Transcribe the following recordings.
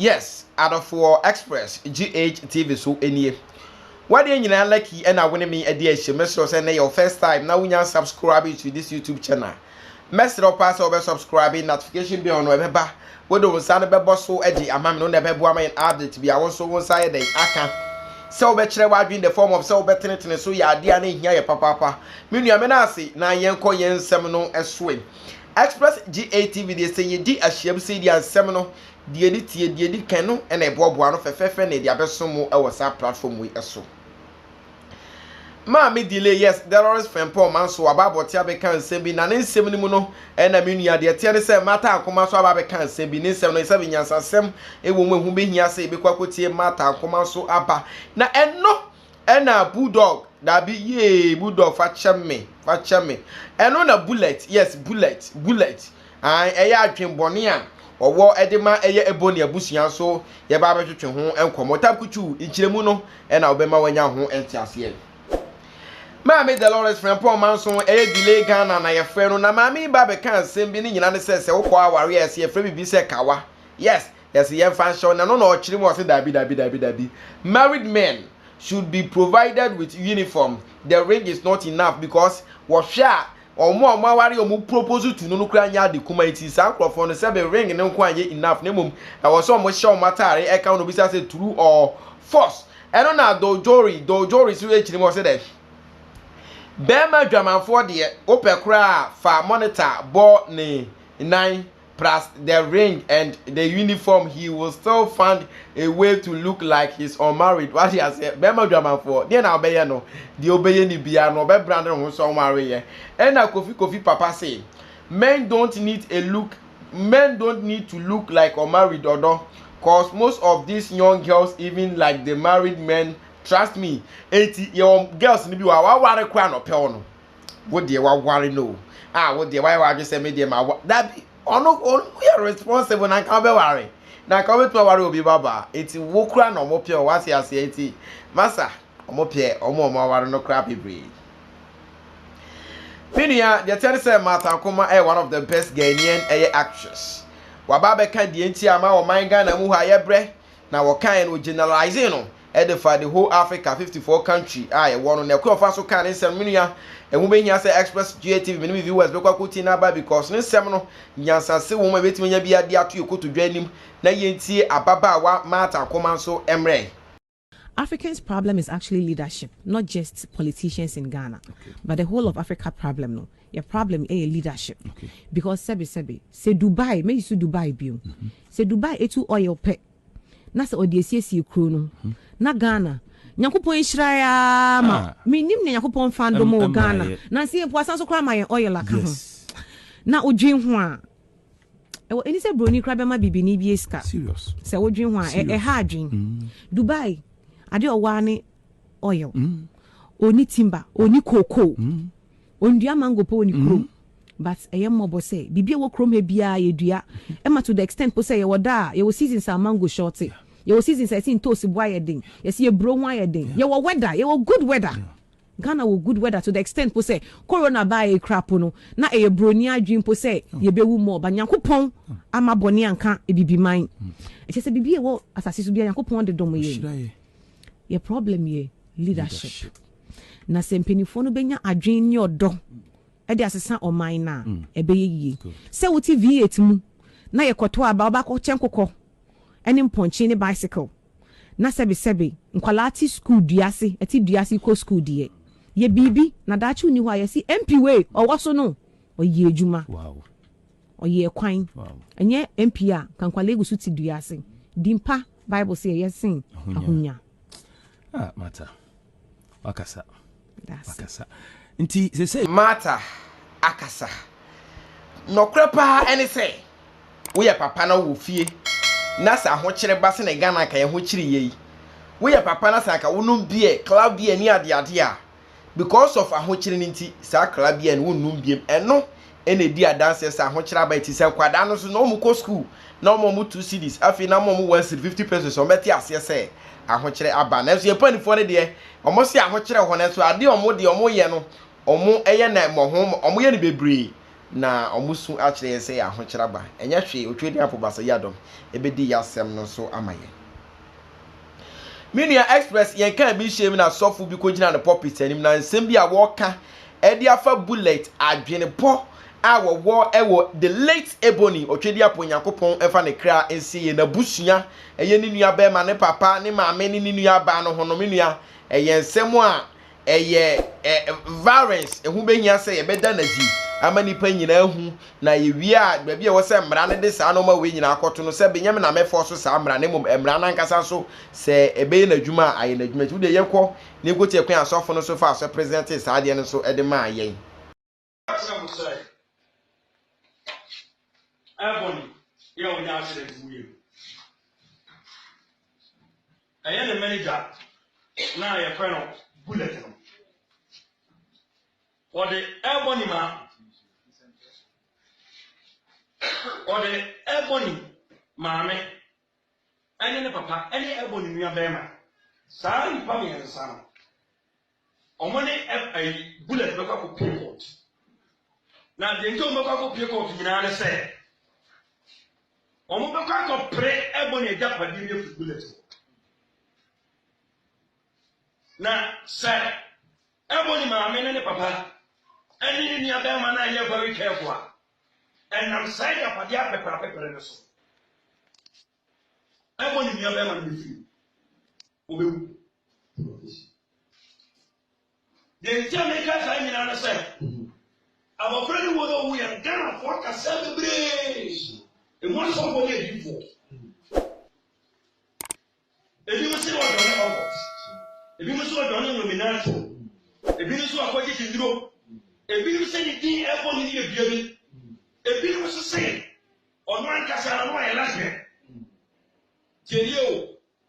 Yes, adɔfoɔ express GH TV so nie. Wadeɛ nyinaa lucky ɛna wo ne me adi ahyɛ me srɛ sɛ na your first time na wonya subscribe to this YouTube channel. Mɛsrɛ paa sɛ wɔbɛ subscribe notification bell no ɛbɛba Wode wo nsa no bɛbɔ so de ama me no, wo na ɛbɛboa ma yɛn update bia. Wo nso wo nsa ayɛ dɛn aka sɛ wobɛkyerɛ w'adwene in the form of sɛ wobɛtenetene so yɛ adeɛ a na ɛhia yɛ papaapa. Me nua, meda ase na yɛnkɔ yɛn nsɛm no so ɛ. Express GATV deɛ sɛ yɛdi ahyiam sei deɛ a nsɛm no deɛ ɛdi tie, deɛ ɛdi kan no na ɛboaboa ano fɛfɛɛfɛ na yɛde abɛso mo wɔ saa platform wei so. Maame Delay, yes, Delores Frimpong ma nso waba abɔte abɛka nsɛm bi, na ne nsɛm no mu no, ɛna me nua, deɛ ɛteɛ ne sɛ Martha Ankoma nso aba abɛka nsɛm bi. Ne nsɛm no, sɛbe nyansasɛm wɔ mu, ɛho bɛhia sɛ yɛbɛkɔ akɔtie Martha Ankoma nso aba. Na ɛno ɛna Bulldog, daabi, yee, Bulldog fa kyɛ me, fa kyɛ me. Ɛno na Bullet, yes, Bullet, Bullet. Aane, ɛyɛ adwen bɔne a ɔwɔ de ma ɛyɛ ɛbɔ ne abusua nso yɛba abɛtwetwe ho nkɔmmɔ. Tabkutu nkyerɛmu no na wobɛma wanya ho nteaseɛ. Maame Delores Frimpong Manso, ɛyɛ Delay Ghana na yɛfrɛ no, na maame yi ba bɛka nsɛm bi ne nyina ne sɛ sɛ wokɔ aware a ɛse yɛfrɛ biribi sɛ kawa, yes, yɛse yɛmfa nhyɛ wo na ɛno na ɔkyere mu, ɔse daabi daabi daabi daabi, married men should be provided with uniform, the ring is not enough because wɔhwɛ a, wɔn a wɔn aware a wɔn propose to no no koraa nyɛ ade kuma nti saa nkorɔfoɔ no sɛbe ring no nko anyɛ enough na mmom ɛwɔ sɛ wɔn hyɛ wɔn ataare ɛka wɔn obisa sɛ through or force ɛno na dojori dojori so ɛkyerɛ mu wɔ sɛ dɛ bɛrima adwamanfoɔ deɛ wopɛ koraa a fa monitor bɔ ne nan plus the ring and the uniform he will still find a way to look like he's unmarried wate aseɛ bɛrima dwamanfoɔ deɛ na ɔbɛyɛ no deɛ ɔbɛyɛ ne biara no ɔbɛbra ne ho sɛ ɔnwareyɛ ɛna kofi kofi papa se men don't need a look men don't need to look like unmarried ɔdɔ cause most of these young girls even like the married men trust me eti yɛwɔ girls no bi wɔ a waware koraa na ɔpɛw no wo deɛ waware no o ah wo deɛ wayɛ w'adwene sɛ me deɛ ma wa dabi ɔno ɔno yɛ responsible na nka ɔbɛware na nka ɔbɛtumi aware obi babaa eti wo kura na ɔmo pɛ ɔwɔ ase aseɛ eti masa ɔmo pɛ ɔmo ɔmo aware no kura bebree. Me nua deɛ teɛ ne sɛ Martha Nkrumah ɛyɛ one of the best Ghanaian ɛyɛ actress waba abɛka deɛ nti a ma ɔman Ghana mu hɔ a yɛbrɛ na wɔkaeɛ no ɔgeneralize no ɛde fa the whole Africa fifty four country a yɛwɔ no na ɛkwan a ɔfa so kaa ne nsɛm no me nua ɛho bɛhia sɛ Express GA TV me ne me viewers bɛkɔ akɔtie no aba because ne nsɛm no nyansase wɔ mu a ɛbɛtumi anya biara de ato yɛ kotodwe anim na yɛntie ababaawa Martha Akoman so mmrɛ. Africans problem is actually leadership not just politicians in Ghana but the whole of Africa problem no yɛ problem ɛyɛ leadership because sɛbi sɛbi sɛ Dubai mɛyi so Dubai bio sɛ Dubai ɛtu oil pɛ na sɛ ɔde asiesie kuro no hmm. na ghana nyankopɔn nhyira ya ma ah. menim ne nyankopɔn fa dom wɔ ghana nanso yɛ mpo asan so koraa ma yɛn oil aka ho na wodwen ho a ɛwɔ ɛni sɛ buroni koraa bɛma bibini bi sika sɛ wodwen ho a ɛha adwen hmm. dubai ade ɔwaa ne oil ɔni hmm. timba ɔni cocoa Ɔndua mango po wɔ ne kurom. Mm. But ɛyɛ mmɔbɔ sɛ biribi a ɛwɔ kurom ha biara yɛdua. Ɛma to the extent po sɛ yɛwɔ da a yɛwɔ seasons a mango short. Yɛwɔ seasons a yɛsi ntoosi bo ayɛ den. Yɛsi eburo ho ayɛ den. Yɛwɔ weather, yɛwɔ good weather. Yeah. Ghana wɔ good weather to the extent po sɛ corona baa yɛ kura po no na ɛyɛ broni adwene po sɛ mm. yɛbɛwu mɔ ba Nyankopɔn mm. ama bɔne anka ebibiman. Mm. Ɛkyɛ sɛ biribi a ɛwɔ asase so biara Nyankopɔn de dom yɛn. Yɛ problem yɛ leadership. Na sɛ mpanimfoɔ no bɛnya adwene ne ɔdɔ de asesa ɔman no a, mm. ɛbɛyɛ yie. Sɛ wote V8 mu na yɛkɔto aba wobɛakɔ kyɛ nkokɔ ne mpɔnkye ne bicycle na sɛbesɛbe nkwadaa te sukuu dua ase ɛte dua ase kɔ sukuu deɛ yɛ biribi na daakye nni hɔ a yɛsi mp wei ɔwɔ so no ɔyɛ adwuma. Wow. Ɔyɛɛ kwan. Ɛnyɛ MP a Kankwale gu so te dua ase. Din pa Bible se ɛyɛ sen ahonya. Ah, Martha. Wakasa. Wakasa. Nti sɛ sɛ. Martha akasa. Nɔkorɛ paa ɛne sɛ woyɛ papa na wowɔ fie na sɛ ahokyere ba sɛnea Ghana anka yɛn ho kyere yɛ yi, woyɛ papa na sɛ anka wonom beer, cloud beer ne adeade a, because of ahokyere no nti saa krabea no wonnum biem ɛno ɛna edi adanseɛ sɛ ahokyere aba ɛti sɛ nkwadaa no nso na wɔn kɔ school na wɔn wɔn two cedis afei na wɔn wɔn one cedi fifty pesos wɔn bɛte aseɛ sɛ ahokyere aba nanso yɛn mpanimfoɔ no deɛ wɔn se ahokyere hɔ nanso adeɛ wɔn deɛ wɔn yɛ no wɔn ɛyɛ na mmɔho wɔn yɛ no bebree na wɔn su akyerɛ yɛn sɛ ahokyere aba ɛnyɛ hwee otwe ne apo basa yi adɔm ɛbɛdi yɛ asɛm no nso ama yɛn. Me nua Express yɛn kaa bi nhyiam na sɔfo bi kogyina ne pulpit anim na nsɛm bi a wɔreka de afa bullet adwenepɔ a wɔwɔ wɔ the late Ebony Otwediapo Nyankopɔn mfa ne kra nsie yɛ n'abusua ɛyɛ ne nua bɛrima ne papa ne maame ne ne nua baa no ho no me nua ɛyɛ nsɛm a Ɛyɛ ɛ varens ɛho bɛhia sɛ yɛbɛda no adi ama nnipa nyinaa ahu, na yɛwie a, baabi a ɛwɔ sɛ mmara no de saa nnoɔma wei nyinaa kɔto no, sɛ Benyamin ammɛfɔɔ so saa mmara, na mmom mmara no ankasa nso, sɛ ɛbɛyɛ n'adwuma a, ayɛ n'adwuma. Nti wodeɛ yɛkɔ, na yɛkɔtie kwan a asɔfo no nso faa so presɛntee saa adeɛ no nso de maa yɛn. Asɛm no sɛ ɛbɔne yɛ a ɔnya akyerɛ nti woyɛ mu. Ɛyɛ ne manager na yɛfrɛ no bullet no. Ɔde ɛbɔne ma ɔde ɛbɔne maame ɛne ne papa ɛne ɛbɔne nua bɛrima. Saa nipa mmiɛnsa no Ɔmo ne ɛb ayi bullet bɛkɔ akɔ pie court na deɛ nti ɔmo bɛkɔ akɔ pie court nyinaa ne sɛ ɔmo bɛkɔ akɔ pere ɛbɔ ne agya padeɛ ne afiri bullet hɔ na sɛ ɛbɔ ne maame ne ne papa ɛne ne nua bɛrima no ayɛ very careful a ɛnam saa agya padeɛ apɛpɛrɛ apɛpɛrɛ no so ɛbɔ ne nua bɛrima no ne firi Wɔbɛwu. Deɛ nti a meka saa nyinaa no sɛ abɔfra ne wɔn a wɔwu yɛn Ghanafoɔ akasa bebree ɛmu asɔfoɔ ne adifoɔ ebi mo se wɔdɔ ne ɔkɔt ebi mo se wɔdɔ ne nwominato ebi mo se wɔakɔgye gye nnuro ebi mo se ne din ɛbɔ ne yɛ bia bi ebi mo se se ɔno ankasa no ayɛ lasbɛn tiɛnie o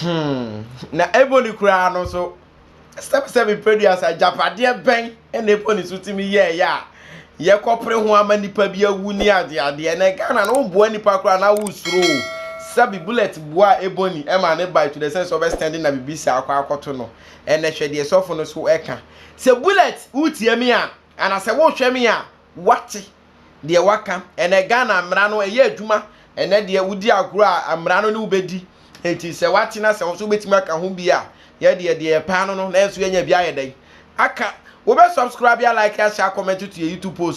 Hmm, na Ebony koraa no nso, sɛbsɛbe mpeduasa, agyapadeɛ bɛn na Ebony nso tumi yɛɛyɛ a yɛkɔpere ho ama nipa bi awu ne adeadeɛ na Ghana no woboa nipa koraa na wosuro o. Sɛbe bullet boa Ebony ɛma ne bae to the sense ɔbɛ stand na bibi saa akɔ akɔto no. Ɛnɛ hwɛ deɛ sɔfo no so ɛka. Sɛ bullet wotie me a, anasɛ wohwɛ me a, wate deɛ waka ɛnɛ Ghana mmara no ɛyɛ adwuma ɛnɛ deɛ wodi agorɔ a mmara no ne wobɛdi enti sɛ watena sɛ nso wobɛtumi aka ho bi a yɛ deɛ deɛ yɛpaa no no nanso yɛnya bi ayɛ dɛn aka wobɛ subscribe a like ahyɛ a comment to yɛ YouTube post